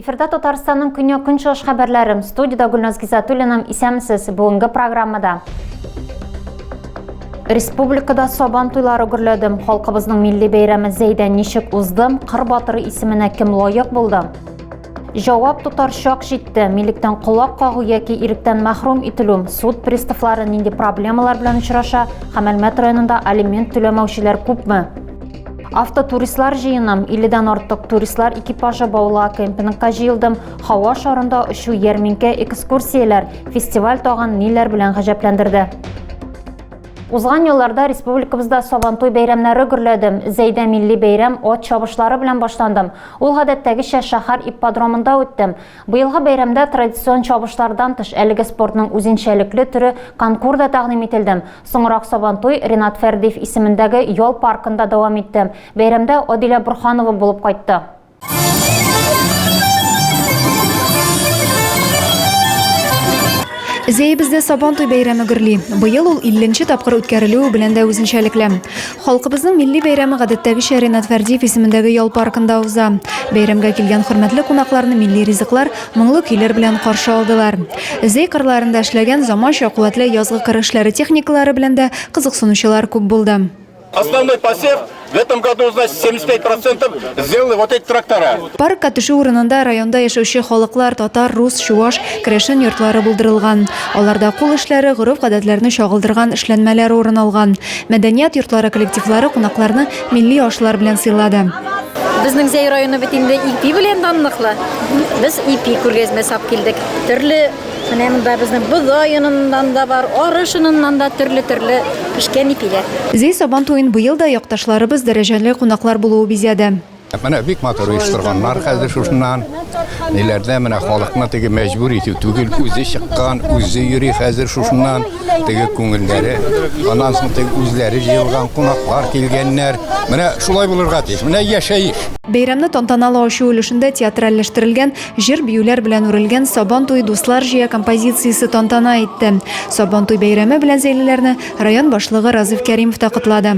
Эфирда Татарстанның көньяк көнчыгыш хәбәрләре. Студияда Гүлназ Гизатуллина. Исәмсез. Бүгенге программада Республикада сабан туйлары гөрләде. Халкыбызның милли бәйрәме Зәйдән ничек узды? Кыр батыры исеменә кем лаек булды? Җавап тотар чак җитте. Милектән колак кагу яки иректән мәхрүм ителү, суд приставлары нинди проблемалар белән очраша һәм Әлмәт районында алимент түләмәүчеләр күпме? Автотуристлар җыеным, 50-дән артык туристлар экипажы Баула кемпингка җыелдым. Һава шарында очу, ярминкә, экскурсияләр, фестиваль тагын ниләр белән гаҗәпләндерде? Узган елларда республикабызда Сабантуй бәйрәмнәре гөрләдем. Зәйдә милли бәйрәм от чабышлары белән башландым. Ул гадәттәгечә шәһәр ипподромында үтте. Быелгы бәйрәмдә традицион чабышлардан тыш әлеге спортның үзенчәлекле төре конкур да тәкъдим ителде. Соңрак Сабантуй Ринат Фәрдиев исемендәге ял паркында дәвам итте. Бәйрәмдә Адилә Борһанова булып кайтты. Зәебездә Сабантуй бәйрәме гөрли. Быел ул 50 нче тапкыр үткәрелүе белән дә үзенчәлекле. Халкыбызның милли бәйрәме гадәттәгечә Ренат Фәрдиев исемендәге ял паркында уза. Бәйрәмгә килгән хөрмәтле кунакларны милли ризыклар, моңлы көйләр белән каршы алдылар. Зәй кырларында эшләгән заманча, куәтле язгы кыр эшләре техникалары белән дә кызыксынучылар күп булды. Основной посев в этом году, значит, 75 процентов сделали вот эти трактора. Паркка төшү урынында районда яшәүче халыклар, татар, рус, чуваш, керәшен йортлары булдырылган. Аларда кул эшләре, гореф-гадәтләрне чагылдырган эшләнмәләр урын алган. Мәдәният йортлары коллективлары кунакларны милли ашлар белән сыйлады. Безнең Зәй районы бит инде ипи белән данлыклы. Без ипи күргәзмә сап килдек. Төрле менә монда безнең бодай оныннан да бар, арыш оныннан да төрле-төрле пешкән ипиләр. Зәй Сабан туен быел да якташларыбыз, дәрәҗәле кунаклар булуы бизәде. Менә бик матур оештырганнар хәзер шушыннан. Ниләрдә менә халыкны теге мәҗбүр итү түгел, үзе чыккан, үзе йөри хәзер шушыннан. Теге күңелләре, аннан соң теге үзләре җыелган кунаклар килгәннәр. Менә шулай булырга тиеш. Менә яшәеш. Бәйрәмне тантаналы ачу өлешендә театральләштерелгән, җыр-биюләр белән үрелгән Сабан туе дуслар җыя композициясе тантана итте. Сабан туй бәйрәме белән Зәйлеләрне район башлыгы Разыйф Кәримов та котлады.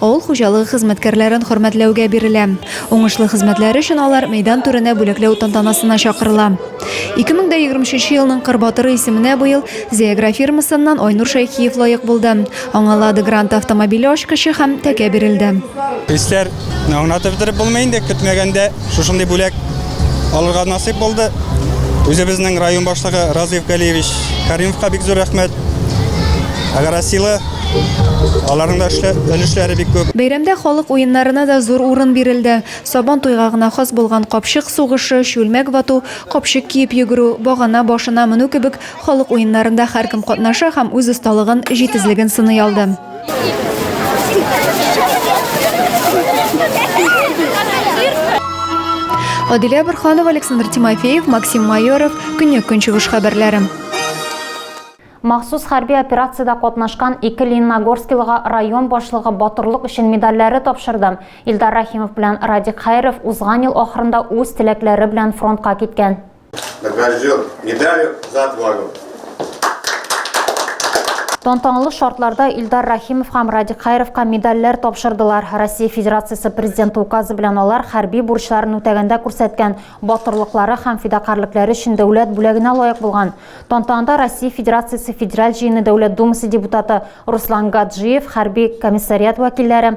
Авыл хуҗалыгы хезмәткәрләрен хөрмәтләүгә бирелә. Уңышлы хезмәтләре өчен алар мәйдан түренә бүләкләү тантанасына чакырыла. 2023 елның Кыр батыры исеменә быел Зеагра фирмасыннан Айнур Шәйхиев лаек булды. Аңа Лада Гранта автомобиле ачкычы һәм тәкә бирелде. Хисләр аңлатып бетереп булмый инде, көтмәгәндә. Шушындый бүләк алырга насыйп булды. Үзебезнең район башлыгы Разыев Галиевич Каримовка бик зур рәхмәт. Агарасилы Аларның да өлешләре бик күп. Бәйрәмдә халык уеннарына да зур урын бирелде. Сабан туйга гына хас булган капчык сугышы, чүлмәк вату, капчык киеп йөгерү, багана башына менү кебек халык уеннарында һәркем катнаша һәм үз осталыгын, җитезлеген сыный алды. Адилә Бырханова, Александр Тимофеев, Максим Майоров, Көньяк Көнчыгыш хәбәрләре. Махсус хәрби операциядә катнашкан ике Лениногорскилыга район башлыгы батырлык өчен медальләре тапшырды. Илдар Рахимов белән Радик Хәйров узган ел ахырында үз теләкләре белән фронтка киткән. Награжден медалью за отвагу. Тантаналы шартларда Илдар Рахимов һәм Радик Хайровка медальләр тапшырдылар. Россия Федерациясе президенты указы белән алар хәрби бурычларын үтәгәндә күрсәткән батырлыклары һәм фидакарьлекләре өчен дәүләт бүләгенә лаек булган. Тантанада Россия Федерациясе Федераль җыены Дәүләт Думасы депутаты Руслан Гаджиев, хәрби комиссариат вәкилләре,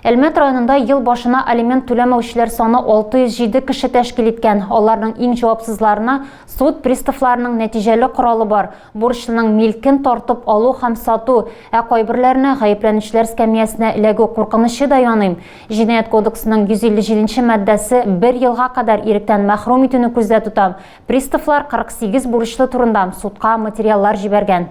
Әлмәт районында ел башына алимент түләмәүчеләр саны 607 кеше тәшкил иткән. Аларның иң җавапсызларына суд приставларының нәтиҗәле коралы бар, бурычлының милкен тартып алу һәм сату, ә кайберләренә гаепләнүчеләр скамиясенә эләгү куркынычы да яный. Җинаять кодексының 157 нче маддәсе бер елга кадәр иректән мәхрүм итүне күздә тота. Приставлар 48 бурычлы турында судка материаллар җибәргән.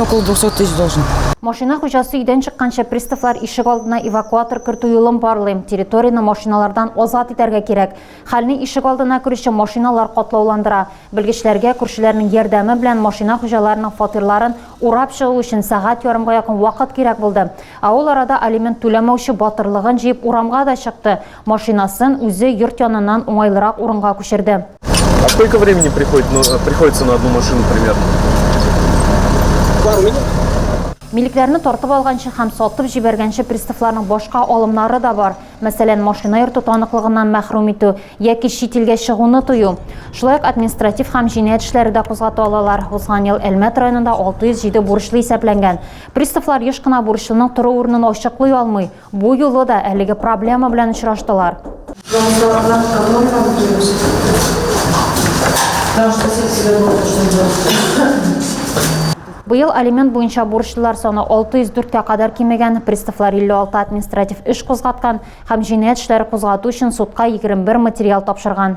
Около 200 тысяч должен. Машина хуҗасы өйдән чыкканча приставлар ишек алдына эвакуатор кертү юлын барлыйм. Территорияне машиналардан азат итәргә кирәк. Хәлне ишек алдына керүче машиналар катлауландыра. Белгечләргә күршеләрнең ярдәме белән машина хуҗаларының фатирларын урап чыгу өчен сәгать ярымга якын вакыт кирәк булды. Ә ул арада алимент түләмәүче батырлыгын җыеп урамга да чыкты. Машинасын үзе йорт яныннан уңайлырак урынга күчерде. А сколько времени приходит, ну, э, приходится на одну машину примерно? Пару минут. Милекләрне тартып алганчы һәм сатып җибәргәнче приставларның башка алымнары да бар. Мәсәлән, машина йөртү таныклыгыннан мәхрүм итү яки чит илгә чыгуны тыю. Шулай ук административ һәм җинаять эшләре дә кузгата алалар. Узган ел Әлмәт районында 607 бурычлы исәпләнгән. Приставлар еш кына бурычлының тору урынын ачыклый алмый. Бу юлы да әлеге проблема белән очраштылар. Җаваплылардан канун һәм төзелеш сыйфаты. Граждан секциядә булып эшләгән. Быел алимент буенча бурычлылар саны 604 кә кадәр кимегән, приставлар 56 административ эш кузгаткан һәм җинаять эшләре кузгату өчен судка 21 материал тапшырган.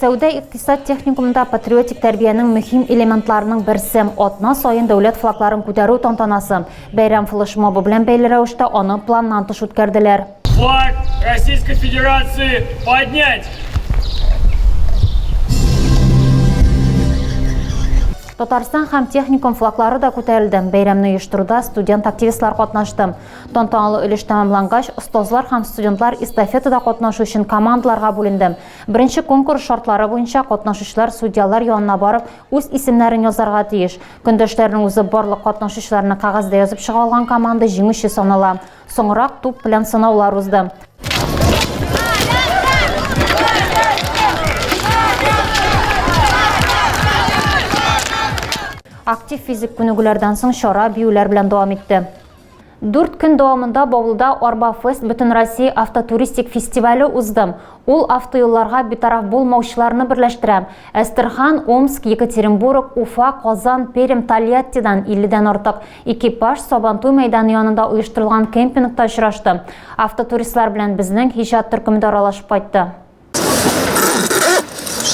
Сәүдә-икътисад техникумында патриотик тәрбиянең мөһим элементларының берсе, атна саен дәүләт флагларын күтәрү тантанасы. Бәйрәм флешмобы белән бәйле рәвештә аны планнан тыш үткәрделәр. Флаг Российской Федерации поднять! Татарстан һәм техникум флаглары да күтәрелде. Бәйрәмне оештыруда студент-активистлар катнашты. Тантаналы өлеш тәмамлангач, остазлар һәм студентлар эстафетада катнашу өчен командаларга бүленде. Беренче конкурс шартлары буенча катнашучылар судьялар янына барып, үз исемнәрен язарга тиеш. Көндәшләрнең үзы барлык катнашучыларны кәгазьдә язып чыга алган команда җиңүче санала. Соңрак туп белән сынаулар узды. Актив физик күнегүләрдән соң чара биюләр белән дәвам итте. Дүрт көн дәвамында Баулыда Арбафест бөтенроссия автотуристик фестивале узды. Ул автоюлларга битараф булмаучыларны берләштерә. Әстерхан, Омск, Екатеринбург, Уфа, Казан, Пермь, Тольяттидан 50 дән артык экипаж Сабантуй мәйданы янында оештырылган кемпингта очрашты. Автотуристлар белән безнең иҗат төркеме дә аралашып кайтты.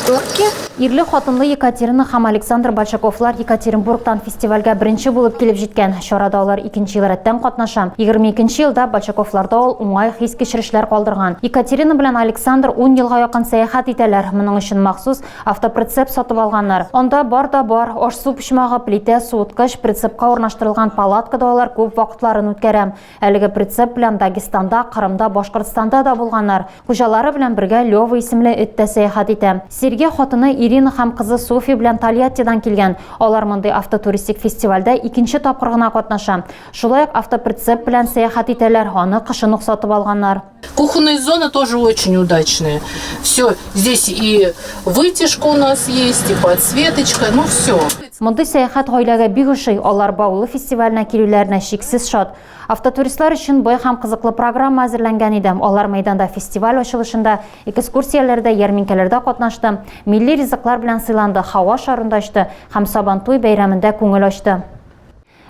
Шторки? Ирле хатынлы Екатерина һәм Александр Большаковлар Екатеринбургтан фестивальгә беренче булып килеп җиткән. Чарада алар икенче ел рәттән катнаша. 22 елда Большаковларда ул уңай хис кичерешләр калдырган. Екатерина белән Александр 10 елга якын сәяхәт итәләр. Моның өчен махсус автоприцеп сатып алганнар. Анда бар да бар, аш-су почмагы, плитә, суыткыч, прицепка урнаштырылган палаткада алар күп вакытларын үткәрә. Әлеге прицеп белән Дагестанда, Кырымда, Башкортстанда да булганнар. Хуҗалары белән бергә Лёва исемле эт тә сәяхәт итә. Сергей хатыны Ирина һәм кызы Софья белән Тольяттидан килгән. Алар мондый автотуристик фестивальдә икенче тапкыр гына катнаша. Шулай ук автоприцеп белән сәяхәт итәләр, аны кышын ук сатып алганнар. Кухонные зоны тоже очень удачные. Все, здесь и вытяжка у нас есть, и подсветочка, ну все. Мондый сәяхәт гаиләгә бик ошый. Алар Баулы фестиваленә килүләренә шиксез шат. Автотуристлар өчен бай һәм кызыклы программа әзерләнгән иде. Алар мәйданда фестиваль ачылышында, экскурсияләрдә, ярминкәләрдә катнашты, милли ризыклар белән сыйланды, һава шарында очты һәм Сабантуй бәйрәмендә күңел ачты.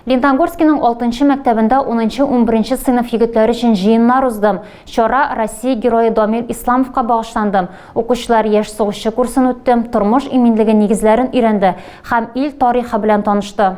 Леногорскиның алтынчы мәктәбендә унынчы-унберенче сыйныф егетләре өчен җыеннар уздым. Чара Россия Герое Домир Исламовка багышланды. Укучылар Яшь сугышчы курсын үтте, тормыш иминлеге нигезләрен өйрәнде һәм ил тарихы белән танышты.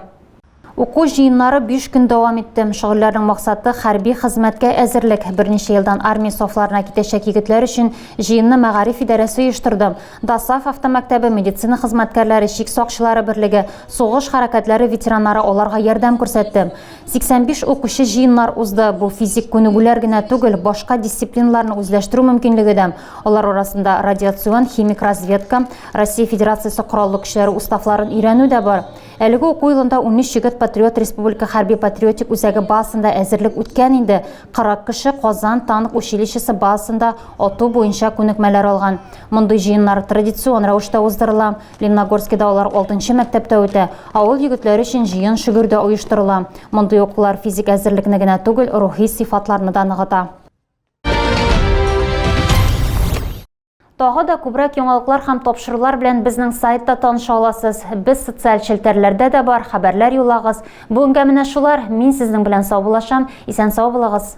Уку җыеннары биш көн дәвам итте. Шөгыльләрнең максаты, хәрби хезмәткә әзерлек. Берничә елдан армия сафларына китәчәк егетләр өчен җыенны мәгариф идарәсе оештырды. ДОСААФ автомәктәбе, медицина хезмәткәрләре, чик сакчылары берлеге, Сугыш хәрәкәтләре ветераннары аларга ярдәм күрсәтте. 85 укучы җыеннар узды. Бу физик күнегүләр генә түгел, башка дисциплиналарны үзләштерү мөмкинлеге дә. Алар арасында радиацион, химик разведка, Россия Федерациясе Кораллы көчләре уставларын өйрәнү дә бар. Әлеге уку елында унөч егет Патриот республика хәрби-патриотик үзәге базасында әзерлек үткән инде, 40 кеше Казан танк училищесы базасында ату буенча күнекмәләр алган. Мондый җыеннар традицион рәвештә уздырыла. Лениногорскида алар алтынчы мәктәптә үтә, авыл егетләре өчен җыен шөгер дә оештырыла. Мондый укулар физик әзерлекне генә түгел, рухи сыйфатларны да ныгыта. Тагы да күбрәк яңалыклар һәм тапшырулар белән безнең сайтта таныша аласыз. Без социаль челтәрләрдә дә бар, хәбәрләр юллагыз. Бүгенгә менә шулар. Мин сезнең белән саубулашам. Исән сау булыгыз.